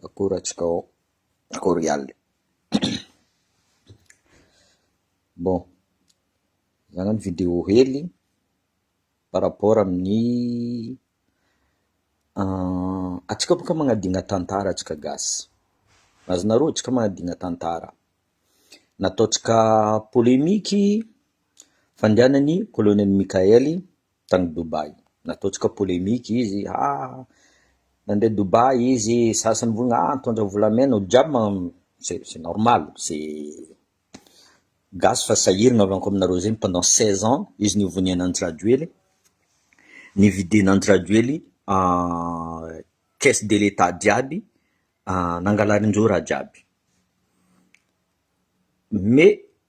Akorantsika ao, akory alina. Bon, zany ny vidéo hely par rapport amin'ny antsika boka magnadigna tantara antsika gasy, azonareo? Antsika magnadigna tantara, nataontsika polemique fandehanan'ny colonel Mikael, tany Dubaï. Nataontsika polemique izy, ah nandeha Dubaï izy, sasany hoy ah nitondra volamena, olo jiaby man- c'est c'est normal, c'est gasy fa sahirana avy akao aminareo zegny pendant seize ans, izy nivoniana an'i Rajoely, nividiana an'i Rajoely caisse de l'Etat jiaby, nangalarin'ireo raha jiaby, mais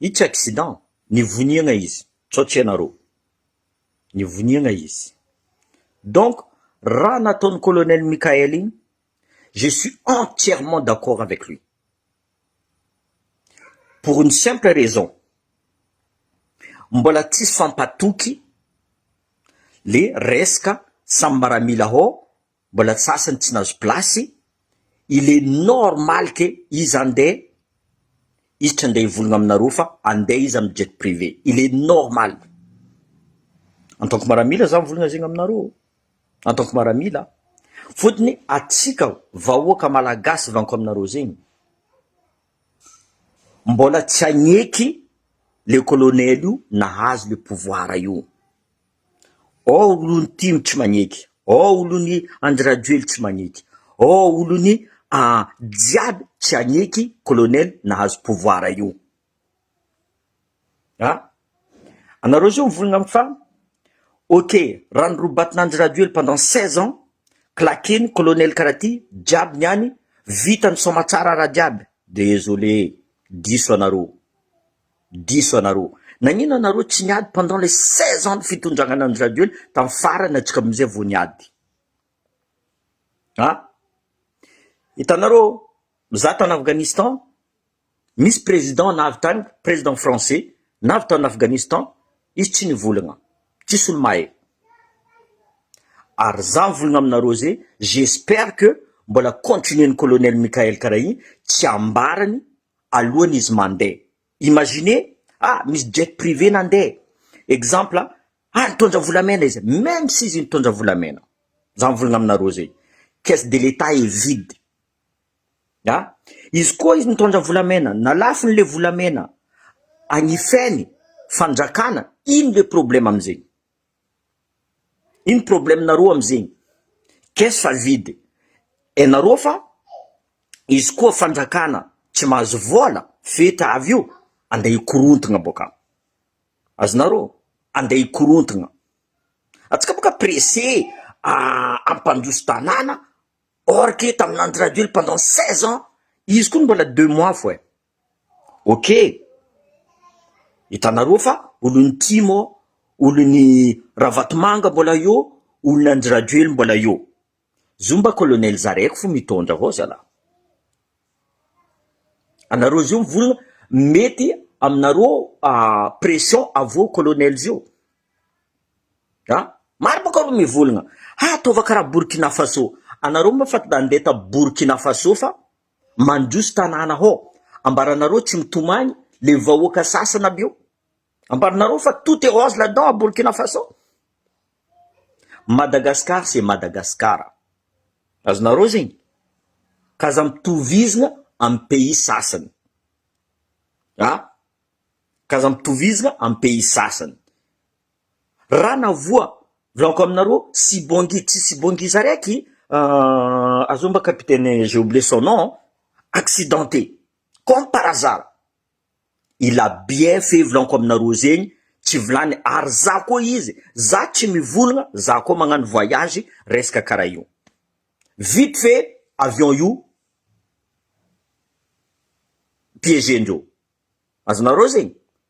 Itsy accident, nivoniagna izy, sao tsy ianareo. Nivoniagna izy. Donc, raha nataon'i Colonel Mickaël igny, je suis entièrement d'accord avec lui. Pour une simple raison, mbola tsisy fampatoky le resaka samy maramila hao Mbola tsy sasany tsy nahazo place, il est normal que izy handeha, izy tsy handeha hivologna aminareo fa handeha izy amin'ny jet privé, il est normal. En tant que maramila za mivologna zegny aminareo ô, en tant que maramila, fotony atsika vahoaka malagasy vanko aminareo zegny, mbola tsy hagneky le colonel io nahazo le pouvoir io. Ao olon'i Tim tsy maneky, ao olon'i Andry Rajoely tsy maneky, ao olon'i ah jiaby tsy haneky colonel nahazo pouvoir io ah. Anareo zao mivolagna am fa ok raha norobatin'Andry Rajoely pendant seize ans, claqueny colonel karaha ty jiaby niany, vitany soamatsara raha jiaby, desolee, diso anareo. Diso anareo. Nagnino anareo tsy niady pendant le seize ans ny fitondragnana ny radio ny tam farany atsika amizay vo niady. A. Hitanareo za tany Afghanistan misy president navy tany president français navy tany Afghanistan izy tsy nivolagna tsisy olo mahay ary za mivolagna aminareo ze j'espère que mbola continuer ny colonel Mickael kara igny tsy ambarany alohany izy mandeha. Imaginez ah misy jet privé nandeha exemple ah nitondra volamena izy même si izy nitondra volamena za mivolagna aminareo zegny caisse de l'etat est vide ah izy koa izy nitondra volamena na lafony le volamena agnifainy fanjakana ino le problème amizegny. Ino problème nareo amzegny? Caisse fa vide enareo fa izy koa fanjakana tsy mahazo vola fetra avy io ande hikorontagna boka azonareo ande hikorontagna atsika boka presse ampandroso tanàna or que taminandro rajoel pendant seize ans izy koa mbola deux mois fô eh. Ok! Hitanareo fa olon'i tim ô, olon'i ravatomanga mbola eo, olona an-dRajoely mbola eo. Zio mba colonel Zareko fo mitondra hao zalah. Anareo zio mivolona mety aminareo pression avy colonel zio. A! Maro bôka reo mivolagna, ha ataova karaha Burkina Faso, anareo moa fa ande ta Burkina Faso fa Mandroso tanàna hô! Ambaranareo tsy mitomany le vahoaka sasany aby io? Ambaranareo fa tout est rose là-dedans à Burkina Faso? Madagascar c'est Madagascar. Azonareo zegny? Ka aza mitovizigna amin'ny pays sasany a! Ka aza mitovizigna amin'ny pays sasany. Ra na voa volagniko aminareo sibongi tsy sibongi za raiky euh azonao mba capitaine j'ai oublié son nom accidenté comme par hasard i la bien fait volagniko aminareo zegny tsy vilagny ary za koa izy za tsy mivolagna za koa magnano voyage resaka kara io vite fait avion io piégé ndreo azonareo zegny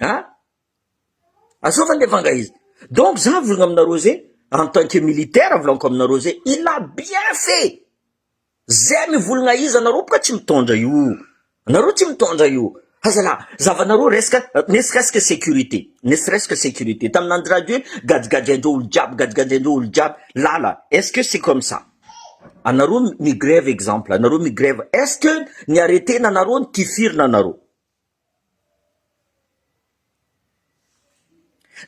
An! Azao va ny vanga izy? Donc za mivolagna aminareo zay en tant que militaire volagniko aminareo zay il a bien fait zay mivolagna izy anareo boka tsy mitondra io, anareo tsy mitondra io fa zalahy zavanareo resaka ne serait ce que sécurité ne serait ce que sécurité tamin'ny Andry Rajoelina gadragadrendreo olo jiaby gadragadrendreo olo jiaby lala est ce que c'est comme ça? Anareo mi-grève exemple anareo mi-grève est ce que ny arrêté nanareo ny tifirina anareo?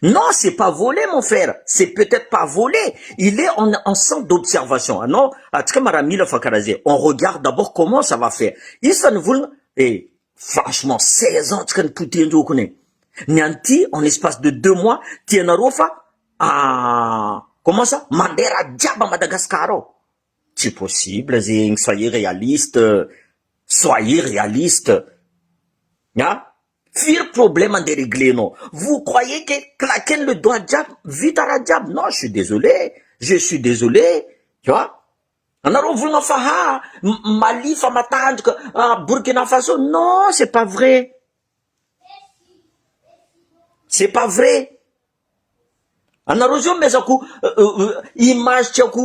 Non c'est pas volé mon frère c'est peut-être pas volé il est en, en centre d'observation anao ah, atsika maramila fa karaha zay on regarde d'abord comment ça va faire isa ny volana eh franchement 16 ans tsika ny potehin-joky ny ny an'ity en espace de deux mois tianareo fa Ah! Comment ça? Mandeha raha jiaby à Madagascar ao? Tsy possible zegny, soyez réaliste, soyez réaliste a! Firy problème andeha reglenao? Vous croyez que claquer le doigt jiaby vita raha jiaby? Non, je suis désolé, je suis désolé, tu vois? Anareo volagna fa ha Mali fa matanjaka, Burkina Faso, non c'est pas vrai, c'est pas vrai. Anareo zao mezako image tiako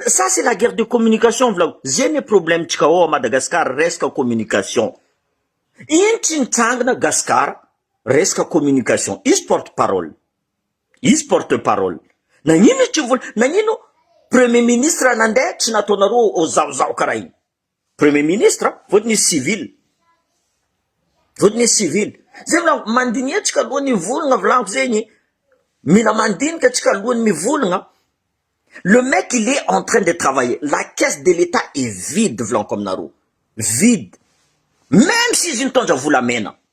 ça c'est la guerre de communication volako ze ne problème tsika ao à Madagascar resaka communication ino tsy nitrangina Gascar resaka communication izy porte parole izy porte parole nagnino izy tsy vola nagnino premier ministre nandeha tsy nataonareo ao zaho zaho karaha iny Premier ministre vao tsy nisy civil. Vao tsy nisy civil. Zay mila mandiniha tsika alohan'ny hivolagna volagno zegny. Mila mandinika tsika alohan'ny mivolagna. Le mec il est en train de travailler. La caisse de l'Etat est vide volaniko aminareo. Vide. Même si izy nitondra volamena.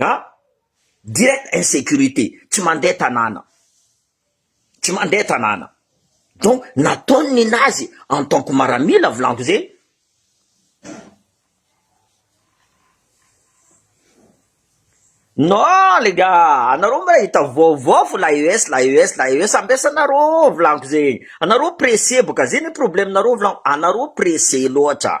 A! direct insecurité, tsy mandeha tanàna, tsy mandeha tanàna, donc nataony ninazy en tant que maramila volako ze, non les gars anareo mba hita vaovao fo la ES la ES la ES ambesanareo ao volako zegny, anareo pressé boka ze ny problème nareo volako anareo pressé loatra.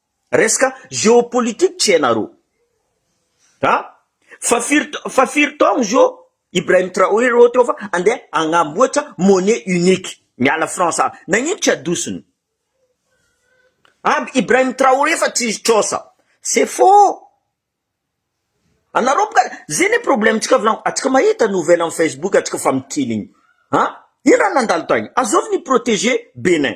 Resaka geopolitique tsy hainareo a! Fa firy fa firy taogno zio Ibrahim Traoré reo teo fa andeha agnamboatra monnaie unique miala France a! Nagnino tsy adosony aby Ibrahim Traoré fa tsy izy trosa? C'est faux! Anareo boka zay ne problème-tsika volagno atsika mahita nouvelle am Facebook atsika fa mikiligny a! Ino raha nandalo tagny? Azovy ni-proteger Bénin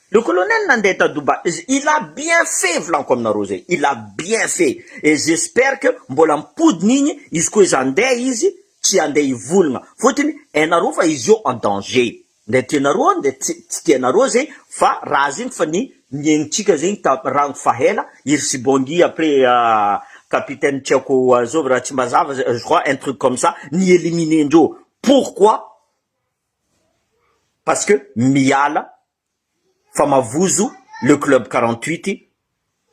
Le colonel nandeha ta Dubai izy, il a bien fait volaniko aminareo zay, il a bien fait et j'espère que mbola mipodina igny izy koa izy handeha izy tsy handeha hivolagna fotony hainareo fa izy io en danger ndre tianareo an ndre tsy tsy tianareo zegny fa raha zegny fa ny niaignitsika zegny ta rang fa hela iry sibongi après capitaine tsy haiko azovy raha tsy mazava je crois un truc comme ça ni eliminer ndreo pourquoi parce que miala fa mavozo le club quarante huit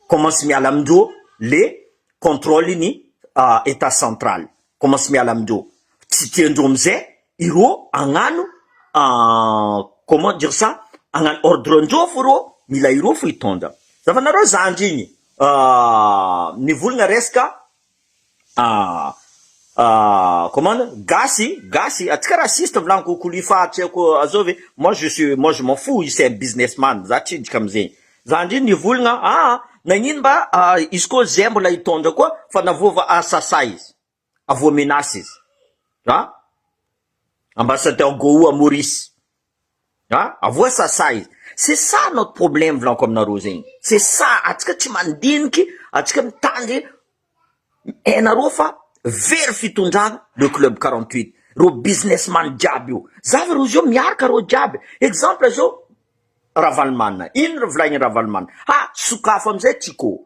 comment sy miala amindreo le controle ny etat central comment sy miala amindreo tsy tiandreo amizay ireo agnano comment dire ça agnano ordre ndreo fo reo mila ireo fo hitondra zavanareo zandry igny mivolagna resaka Ah ah comment gasy gasy atsika raciste volany kokoli fa tsy haiko azao ve moi je suis moi je m'en fous izy c'est un business man za tsy hiditra amzegny za ndry nivolagna ah nagnino mba izy koa zay mbola hitondra koa fa na voava asasa izy avoa menace izy ah ambassadeur goa maurice A! avoa sasa e! c'est ça notre problème volanko aminareo zegny, c'est ça atsika tsy mandiniky atsika mitandry hainareo fa very fitondrana le club quarante huit reo business man jiaby io, za ve reo zeo miaraka reo jiaby, exemple zao Ravalomanana, ino volaigny Ravalomanana, ha sokafo amizay tsika ô,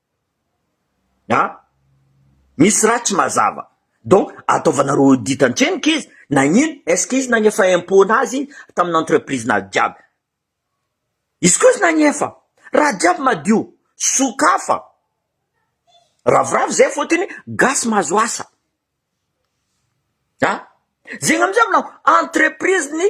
A! Misy raha tsy mazava. Donc ataovanareo audit an-trenoka izy na ino? Est-ce que izy nagnefa impôt nazy tamin'ny entreprise nazy jiaby? Izy koa izy nagnefa, raha jiaby madio, sokafa, ravoravo zay fotony gasy mahazo asa. A! Zegny amizay aminao entreprise ny.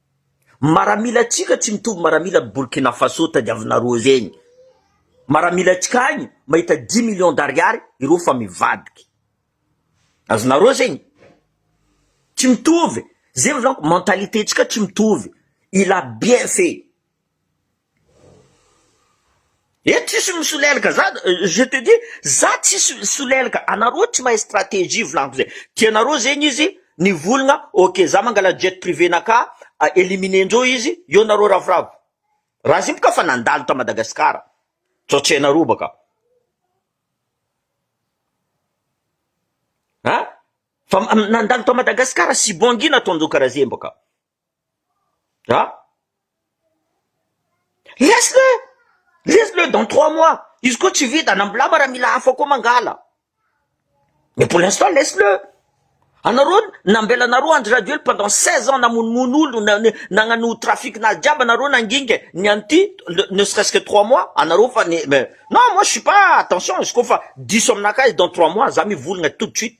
Maramila tsika tsy mitovy maramila ny Burkina Faso tadiavinareo zegny maramila tsika agny mahita dix millions d'ariary ireo fa mivadiky azonareo zegny tsy mitovy zegny volako mentalité tsika tsy mitovy il a bien fait. Eto tsisy misolelaka za je te dis za tsisy solelaka anareo tsy mahay strategie volagno zay tianareo zegny izy ny volagna ok za mangala jet privé naka eliminer ndreo izy eo nareo ravoravo raha zay boka efa nandalo ta Madagascar sao tsy hainareo baka an fa nandalo ta Madagascar sibongina ataondreo kara zegny baka. Ah! Laisse le! Laisse le dans trois mois! Izy koa tsy vita na mblama raha mila hafa koa mangala. Mais pour l'instant laisse le! Anareo nambelanareo Andry Rajoely pendant seize ans namonomono olo nagnano trafic nazy jiaby anareo nanginga ny an'ity ne serait-ce que trois mois anareo fa ny non moi je suis pas attention izy koa fa diso aminakahy izy dans trois mois za mivolagna tout de suite.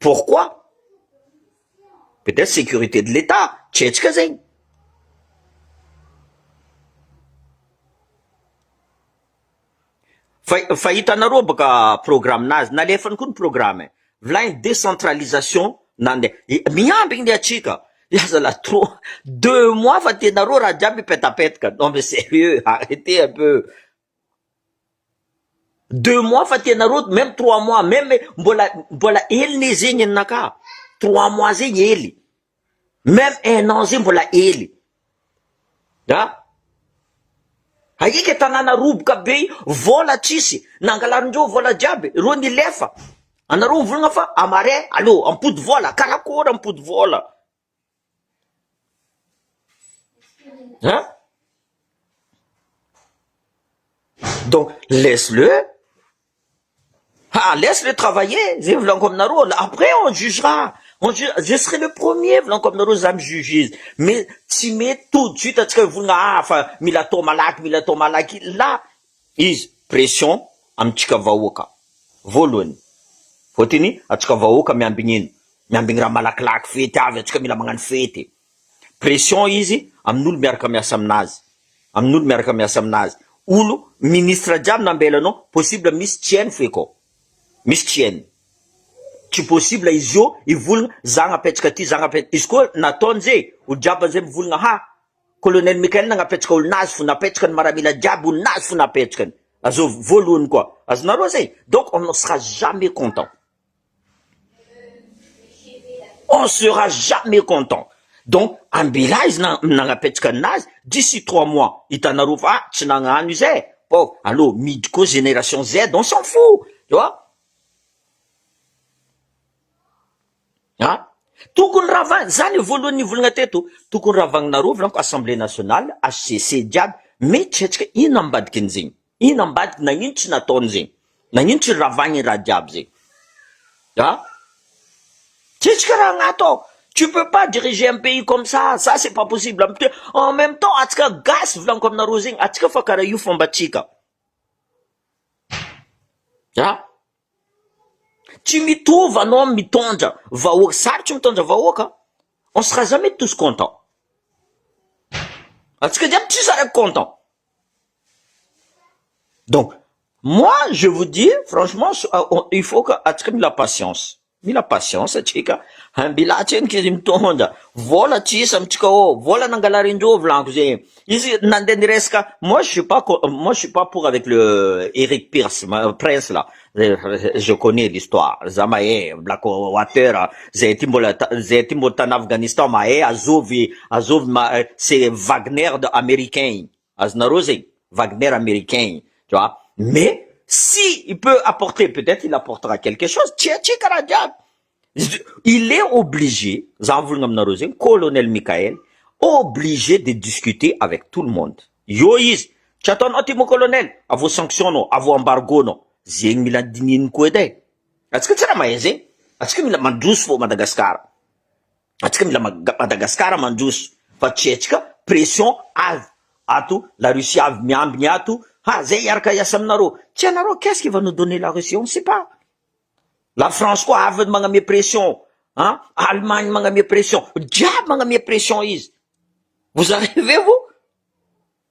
Pourquoi? Peut être sécurité de l'Etat, tsy hetsika zegny. Fa fa hitanareo bôka programme-nazy, nalefany koa ny programme e, vilany décentralisation nandeha, miambigny ny antsika, ya zalah trop, deux mois fa tianareo raha jiaby hipetapetaka, non mais serieux, arretez un peu, Deux mois fa tena road même trois mois même mbola mbola hely ne zegny ninakà trois mois zegny hely même un an zegny mbola hely a ahiaka tanàna roboka be vola tsisy nangalarin'ireo vola jiaby reo nilefa anareo mivolagna fa à marais allo ampody vola karakôry ampody vola. An? Donc laisse le ah laisse le travailler zay volanko aminareo après on jugera on ju je serai le premier volanko aminareo za mi juge izy mais tsy mety tout de suite antsika mivolagna ah fa mila atao malaky mila atao malaky là Izy pression amintsika vahoaka voalohany voateny atsika vahoaka miambigny ino miambigny raha malakilaky fety avy atsika mila magnano fety pression izy amin'olo miaraka miasa aminazy amin'olo miaraka miasa aminazy olo ministre jiaby nambela anao possible misy tsy hainy feky ao misy tsy hainy tsy possible izy io hivolagna zagna apetsaka aty zagna apetsaka izy koa nataony ze olo jiaby zay mivolagna ha Colonel Michael nagnapetsaka olona azy fo napetsaka ny maramila jiaby olona azy fo napetskany azov voalohany koa azonareo zay donc on ne sera jamais content on sera jamais content donc ambela izy na nagnapetsaka anazy d'ici trois mois hitanareo fa tsy nagnano izy eh pauvre allo midy koa génération Z on s'en fou tu vois A! Tokony ravahina, izany io voalohany nivolagna teto, tokony ravagninareo volako assemblée nationale, HCC jiaby, miditra antsika, inona ambadikin'izegny? Inona ambadiky, nagnino tsy nataony zegny? Nagnino tsy ravagny i raha jiaby zegny? A! Tsy tsika raha agnato ao, tu peux pas diriger un pays comme ça, ça c'est pas possible, am te- en même temps atsika gasy volaniko aminareo zegny, atsika fa karaha io fombantsika, a! Tsy mitovy anao amin'ny mitondra vahoaka, sarotry ny mitondra vahoaka, on ne sera jamais tous contents, antsika jiaby tsisy araka content, donc moi je vous dis franchement il faut que antsika mila patience. Mila patience atsika mbila atseniko izy mitondra vola tsy isa mitsika ô vola nangalarindreo volanko ze izy nandeha niresaka moi je suis pas moi je suis pas pour avec le Eric Pirce prince là je connais l'histoire za mahay black water zay aty mbola zay aty mbola tany Afghanistan mahay azovy azovy c'est Wagner de américain igny Azonareo zegny Wagner Americain igny tu vois mais si il peut apporter peut etre il apportera quelque chose tsia tsia karaha jiaby izy il est obligé za mivolagna aminareo zegny Colonel Mickael obligé de discuter avec tout le monde eo izy tsy ataonao ty mon Colonel avo sanction nao avo embargo nao zegny mila dinihin'ny koa edy e atsika tsy raha mahay zegny atsika mila mandroso fô Madagasikara. atsika mila Madagascar mandroso fa tsy atsika pression avy ato la Russie avy miambiny ato ha zay hiaraka hiasa aminareo tsy anareo qu'est-ce qui va nous donner la Russie on ne sait pas la France koa avy magname pression ha Allemagne magname pression jiaby magname pression izy vous arrivez vous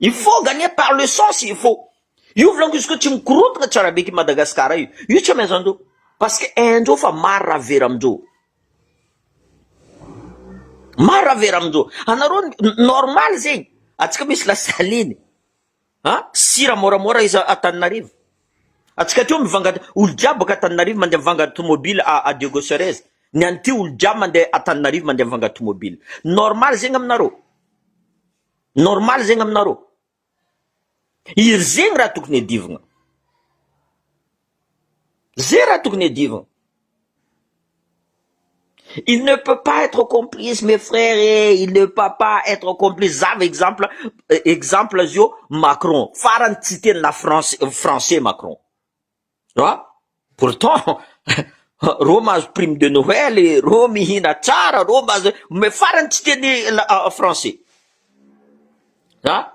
Il faut gagner par le sens il faut io volako izy koa tsy mikorontana tsara be ity Madagascar io io tsy amaiza andreo parce que haindreo fa maro raha very amindreo maro raha very amindreo anareo normal zegny atsika misy lasaliny A, sira moramora iza Antananarivo? Antsika aty mivanga olo jiaby baka Antananarivo mandeha mivanga tomobile a a Diego Cerez, ny any ty olo jiaby mandeha Antananarivo mandeha mivanga tomobile. Normal zegny aminareo? Normal zegny aminareo? Iry zegny raha tokony adivogna. Zay raha tokony hadiovina. Il ne peut pas être complice mes frères eh, il ne peut pas être complice. Za va exemple eh, exemple azy io Macron. Farany tsy teny la France français Macron. Ah, pourtant reo mahazo prime de Noël, eh, reo mihina tsara, reo mahazo mais farany tsy teny la français. Ah,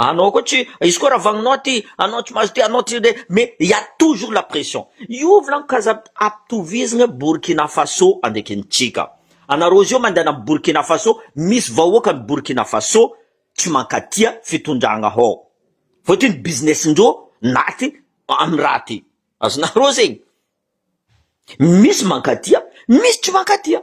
Anao koa tsy, izy koa raha vagninao aty, anao tsy mahazo ty, anao tsy le, mais il y a toujours la pression. Io volagno ka za ampitovizigna Burkina Faso andraikintsika. Anareo zio mandehana am Burkina Faso, misy vahoakan'i Burkina Faso tsy mankatia fitondragna hao. Fôtiny ny business-ndreo naty am raha ty. Azonareo zegny? Misy mankatia, misy tsy mankatia.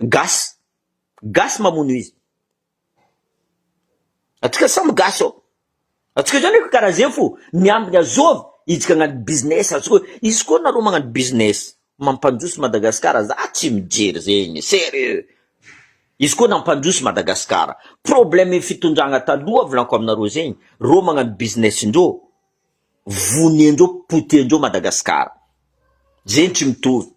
Gasy gasy mamono izy atsika samy gasy ô atsika zany efa karaha zegny fô miambina zovy hijika agnano business atsika hoe izy koa nareo magnano business mampandroso Madagasikara za tsy mijery zegny serieux izy koa nampandroso Madagasikara problème fitondragna taloha volaniko aminareo zegny reo magnano business ndreo voniandreo potehin-dreo Madagasikara zegny tsy mitovy.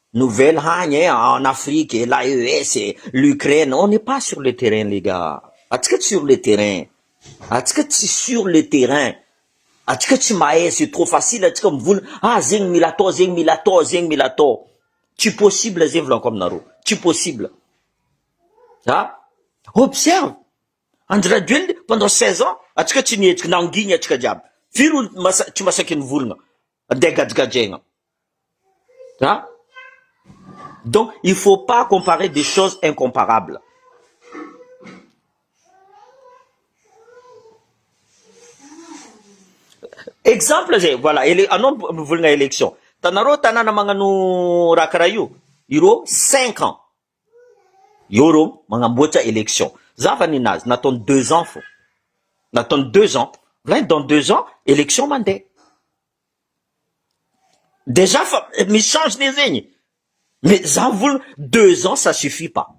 Nouvelle hagny eh en Afrique eh la US eh l'Ukraine on n'est pas sur le terrain les gars atsika tsy sur le terrain atsika tsy sur le terrain atsika tsy mahay c'est trop facile atsika mivola ah zegny mila atao zegny mila atao zegny mila atao tsy possible zegny volako aminareo tsy possible ah observe Andry Rajoelina pendant 16 ans atsika tsy nihetsiky nangigny atsika jiaby firy olo masa- tsy masaky nivolagna Andeha gajigajaina a! Donc il faut pas comparer des choses incomparables. Exemple zay, voilà, ele, anao mivolagna election, tanareo tanàna magnano raha karaha io, ireo cinq ans, Eo reo magnamboatra election. Za fa ninazy nataony deux ans fô. Nataony deux ans. Raha dans deux ans election mandeha. Dejà fa misy change ne zegny. Mais za volana deux ans ça suffit pas.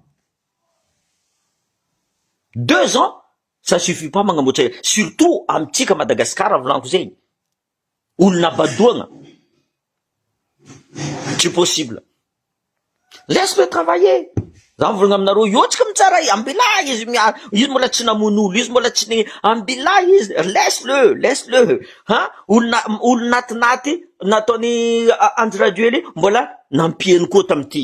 Deux ans ça suffit pas magnamboatra surtout amintsika Madagasikara volaniko zegny. olona badoagna tsy possible laisse le travailler za mivolagna aminareo iotsika mi tsara ambila izy miara izy mbola tsy namono olo izy mbola tsy ny ambila izy laisse le laisse le ha olona olona atinaty nataony andry rajoely mbola nampiany koa tamty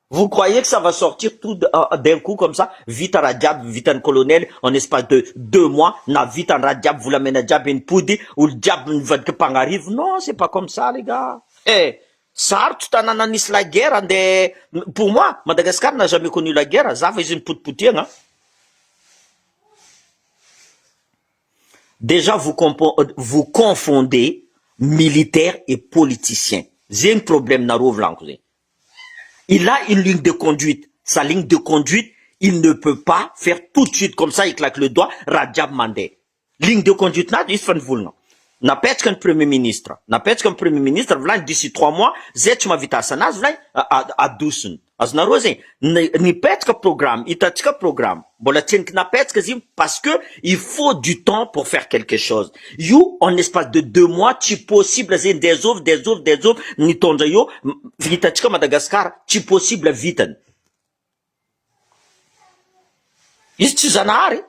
Vous croyez que ça va sortir tout d'un coup comme ça? Vita raha jiaby vitan'ny colonel en espace de deux mois, nahavita ny raha jiaby, volamena jiaby nipody, olo jiaby nivadika mpagnarivo, non c'est pas comme ça les gars eh! Sarotro tanàna nisy la guerre andeha, pour moi Madagascar n'a jamais connu la guerre, za fa izy nipotipotehagna, Dejà vous vous confondez militaire et politicien zegny problème nareo volagno zegny, il a une ligne de conduite, sa ligne de conduite il ne peut pas faire tout de suite comme ça il claque le doigt raha jiaby mandeha ligne de conduite nazy izy fa ny volona napetraka ny premier ministre napetraka ny premier ministre volañy d'ici trois mois zay tsy mahavita asa nazy volañy adosony azonareo zay ny nipetraka programme hitantsika programme Mbola tsy entina petsaka izy io parce que il faut du temps pour faire quelque chose. Io en espace de deux mois tsy possible ze ndeha zovy dia zovy dia zovy ny taondra io hitantsika ao Madagascar tsy possible vitany. Izy tsy zanahary e!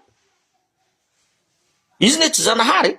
Izy ne tsy zanahary e!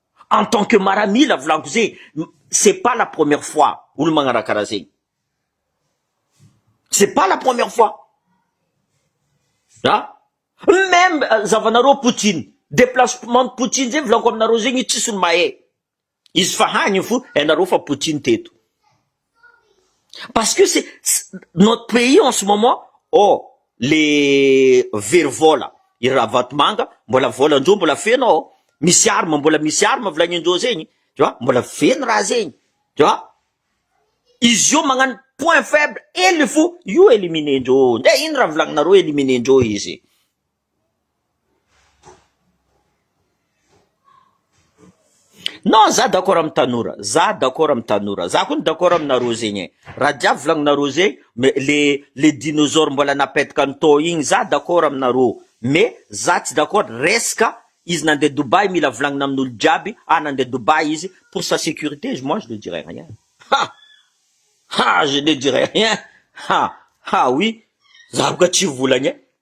En tant que maramila volagno ze c'est pas la première fois olo magnaraha karaha zegny c'est pas la première fois ah meme zavanareo poutine deplacement poutine ze volagno aminareo zegny tsisy olo mahay izy fa hagny fo enareo fa poutine teto. Parce que c'est notre pays en ce moment oh le very vola i ravatomanga mbola volandreo mbola feno ao misy arme mbola misy arme volagnindreo zegny tu vois mbola feno raha zegny tu vois izy io magnano point faible hely fo io éliminer ndreo ndray ino raha volagnareo éliminer ndreo izy Non za d'accord am tanora za d'accord am tanora za koa d'accord amina roa zegny e ra jiaby volagninareo zegny mais le le dinozor mbola napetaka ny taux igny za d'accord aminareo mais za tsy d'accord resaka izy nande Dubaï mila volagnina aminolo jiaby ah nande Dubaï izy pour sa securite izy moi je ne dirai rien ha ha je ne dirai rien ha ha oui za boka tsy volagna e.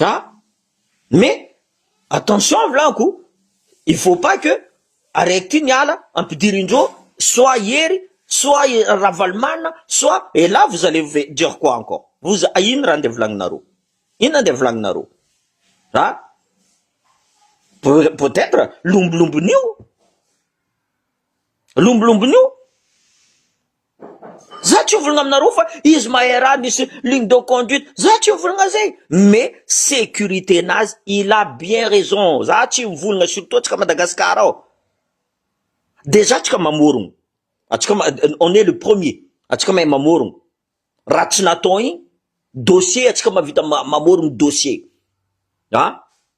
An! Mais attention avy laniko, il faut pas que araiky ty miala ampidirindreo soit i Hery, soit i Ravalomanana, soit et là vous allez ve- dire quoi encore? Vous a- inona raha andeha volagninareo? Inona andeha volagninareo? An! Peut- peut etre lombolombon'io, lombolombon'io. Za tsy hovolagna aminareo fa izy mahay raha misy ligne de conduite za tsy mivolagna zay mais sécurité nazy il a bien raison za tsy mivolagna surtout antsika Madagascar ao dejà antsika mamorogno antsika ma- on est le premier antsika mahay mamorogno raha tsy natao igny dossier antsika mahavita ma- mamorogno dossier ah.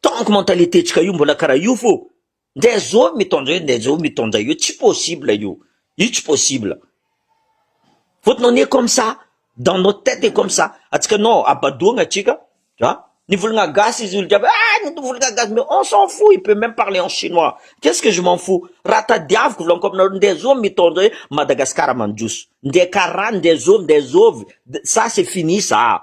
Tant que mentalité-ntsika io mbola karaha io fô ndeha zao mitondra eo ndeha zao mitondra eo tsy possible io, io tsy possible. Fôtony on est comme ça, dans notre tête est comme ça, antsika non abadoagna antsika an, ny volagna gasy izy olo jiaby ah ny volagna gasy mais on s'en fou il peut même parler en chinois qu'est ce que je m'en fou, raha tadiaviko volaniko aminareo ndeha zao mitondra eo Madagascar mandroso, ndeha karaha ndeha zao ndeha zao, ça c'est fini ça.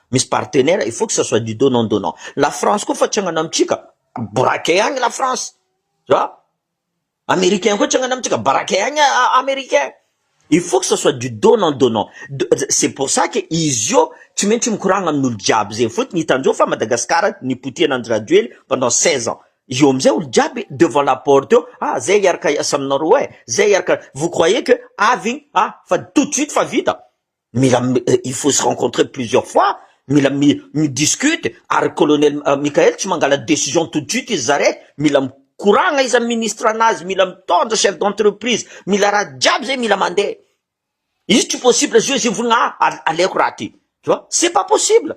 Misy partenaire il faut que ça soit du donnant donnant. La France koa fa tsangana amintsika braquet agny la France a Americain koa tsangana amintsika braquet agny Americain. Il faut que ça soit du donnant donnant. C'est pour ça que izy io tsy maintsy mikoragna amin'olo jiaby zegny fotony hitanjao fa Madagascar nipotihana Andry Rajoely pendant seize ans io amizay olo jiaby devant la porte eo a zay hiaraka hiasa aminareo e zay hiaraka vous croyez que avy igny a fa tout de suite fa vita Mila il faut se rencontrer plusieurs fois, mila mi discute, ary colonel Mickael tsy mangala decision tout de suite izy zare, mila mikoragna izy am ministre anazy, mila mitondra chef d'entreprise, mila raha jiaby zay mila mande, izy tsy possible zio izy hivolagna ah al aleoko raha ty, tu vois, c'est pas possible.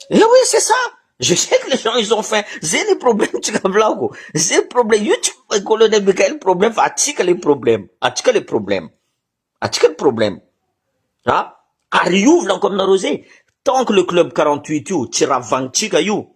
Eh oui c'est ça, je sais que les gens ils ont faim, zay le problème tsika volako, zay problème, io tsy colonel Mickael problème fa atsika le problème, atsika le problème, atsika le problème a, ary io volako aminareo zay, tant que le club quarante huit io tsy ravagnitsika io,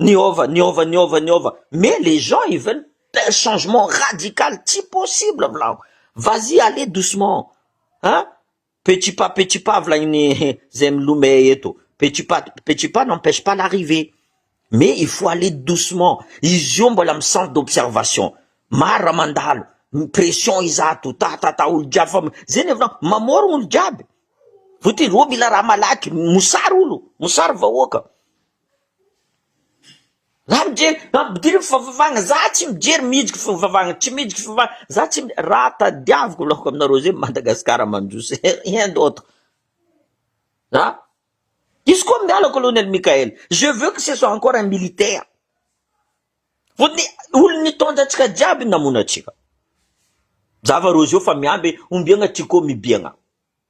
Niova, niova, niova, niova, mais les gens ils veulent un changement radical, tsy possible volahiko, vas y aller doucement an, petit pas petit pas volagn'ny zay milome eto, petit pas petit pas n'empêche pas l'arrivée, mais il faut aller doucement, izy io mbola am centre d'observation, maro raha mandalo, pression izato, ta ta ta, olo jiaby fa, zay ny hevinao, mamorogno olo jiaby, voatery oh mila raha malaky, mosary olo, mosary vahoaka, Za mijery mampidira ny fivavahana, za tsy mijery mihetsiky fivavahana, tsy mihetsiky fivavahana, za tsy mi- raha tadiaviko laoka aminareo zay Madagasikara mandroso rien d'autre an! Diso koa miala Colonel Mickaël, je veux que ce soit encore un militaire fotony olon'ny nitondra antsika jiaby namono antsika, zava-roa zao fa miamby ombiagna Tiko mibiagna.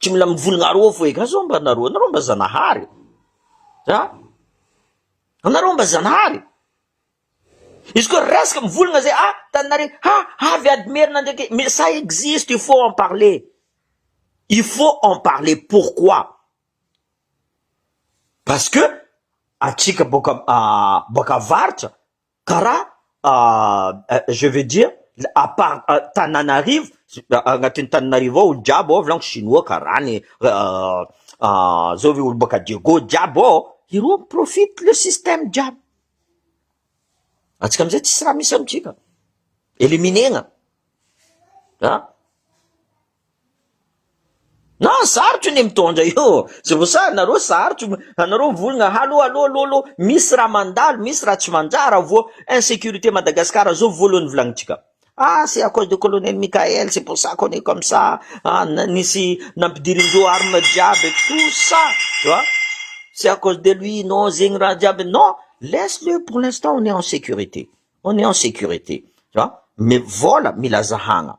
Tsy mila mivolagna aroa fo eka zao mba nareo, nareo mba zanahary e! a! anareo mba zanahary e! izy ko resaka mivolagna zay a! tananare a! avy ady merina ndreky mais ça existe il faut en parler il faut en parler pourquoi parce que atsika boaka boaka avaritra Karaha je veux dire à part Tananarivo, agnatin'ny Tananarivo ao olo jiaby ao volagno chinois karaha ny zao ve olo baka Diego jiaby ao, ireo mi profite le système jiaby, antsika amizay tsisy raha misy amitsika, éliminer-na an! Na sarotra anie mitondra io tsy voasahy nareo sarotra anareo mivolagna allo allo allo allo misy raha mandalo misy raha tsy manjara vao insecurite Madagascar zao voalohany volagnintsika ah c'est à cause de colonel Mickaël c'est pour ça qu'on est comme ça ah nisy nampidirindreo armes jiaby et tout ça tu vois c'est à cause de lui non zegny raha jiaby non laisse le pour l'instant on est en sécurité on est en sécurité tu vois mais vôla mila zahagna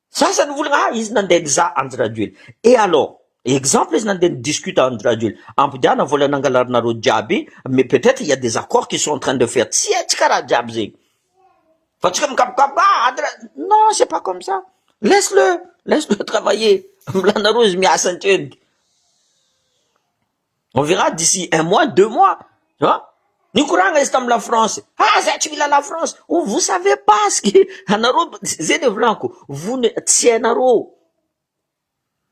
Sasa ny volagna ah izy nandeha nizaha Andry Rajoel et alors? exemple izy nandeha ni discute Andry Rajoel ampodiana vola nangalarinareo jiaby mais peut etre il ya des accords qui sont en train de faire tsy haintsika raha jiaby zegny fa tsika mikapokapoka ah Andry Ra non c'est pas comme ça laisse le laisse le travailler milanareo izy miasa antreniky. On verra d'ici un mois, deux mois, tu vois. Nikoragna izy tamin'ny lafrance, ah zay tsy mila lafrance, oh vous savez pas ce que anareo, zay le volako, vous ne, tsy hainareo,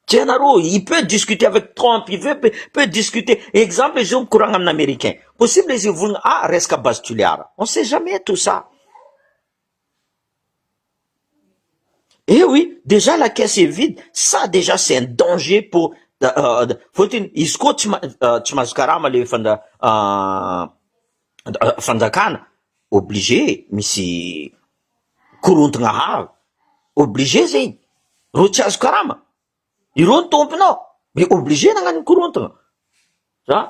tsy hainareo, il peut discuter avec Trump, il veut, peut, peut discuter, exemple izy io mikoragna amin'ny Americain, possible izy hivolagna, ah resaka base tulear, on sait jamais tout ça. Eh oui, déjà la caisse est vide, ça déjà c'est un danger pour fôtiny izy koa tsy maha- tsy mahazo karama le fanda- fanjakana, obligé misy korontana avy, obligé zegny, reo tsy azo karama, ireo no tompony ao, mais obligé nagnano korontana, zany.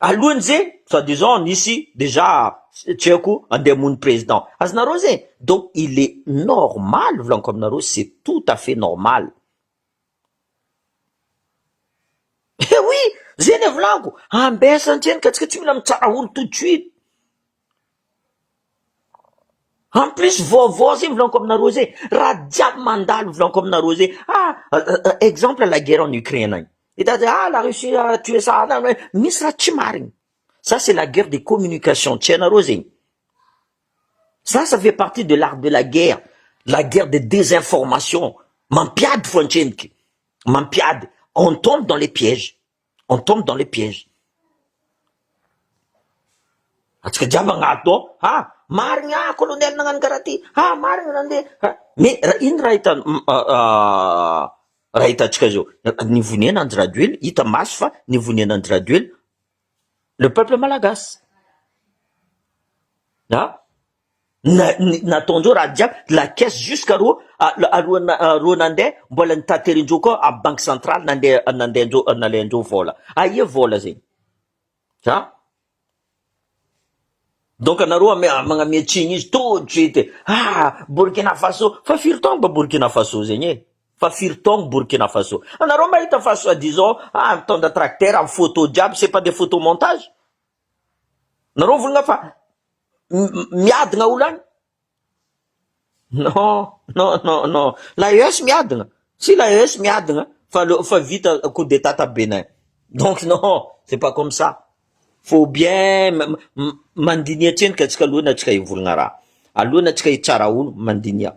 Alohany ze soit disant nisy dejà tsy haiko andeha hamono président azonareo ze donc il est normal volaniko aminareo c'est tout à fait normal eh oui ze le volaniko ambesany hatreny ka tsika tsy mila mitsara olo tout de suite. En plus vaovao zay milaonko aminareo zay, raha jiaby mandalo milaonko aminareo zay, ah exemple la guerre en Ukraine any, hitady hoe ah la Russie a tué ça, misy raha tsy marigny, ça c'est la guerre des communications, tsy hainareo zegny, ça ça fait partie de l'art de la guerre, la guerre de désinformation, mampiady fo an-tsendriky, mampiady, on tombe dans les pièges. On tombe dans les pièges. Antsika jiaby agnado ao, ha marigny ah colonel nagnano karaha ty, ha marigny nandeha, mais ra ino raha hitan raha hitantsika zao, nivonena andry rajoely, hita maso fa nivonena andry rajoely le peuple malagasy, ha. nataon-dreo raha jiaby la caisse jusque ro alohan'reo nandeha mbola nitaterin-dreo koa amin'ny banque centrale nandeha nandehan-dreo nalain-dreo vola aia vola zegny a donc anareo magname tsiny izy tout de suite ah Burkina Faso fa firy taogno ba Burkina Faso zegny e fa firy taogno Burkina Faso anareo mahita fa soit disant ah mitondra tracteur amin'ny photo jiaby c'est pas des photos montage Nareo volona fa miadina olo any? Non, non, non, non. La ES miadina. Si la ES miadina fa le fa vita coup d'Etat ta Bénin. Donc non, c'est pas comme ça. Faut bien mandiniha tsendrika antsika alohan'ny antsika hivolagna raha. Alohan'ny antsika hitsara olo, mandiniha.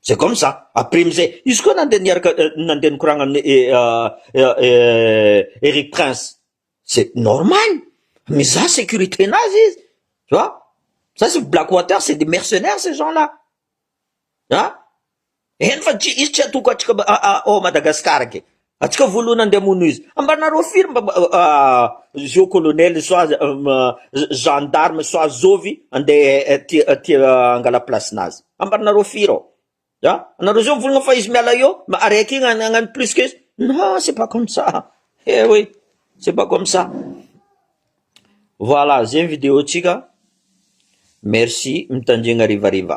C'est comme ça, après amizay izy koa nandeha niaraka nandeha nikoragna amin'ny Eric prince, c'est normal, mizaha sécurité nazy izy, tu vois, ça c'est black water, c'est des mercenaires ces gens là an, eny fa tsy izy tsy atoko atsika ao Madagascar ke. Atsika voalohany andeha amono izy. Ambanareo firy mba zio colonel soit gendarme soit zovy andeha tia tia angala place nazy. Ambanareo firy ao. Ya, anareo zao mivolagna fa izy miala eo ma araiky igny agnano plus que izy, non c'est pas comme ça, eh oui c'est pas comme ça. Voilà zay ny vidéo tsika merci mitandregna harivariva.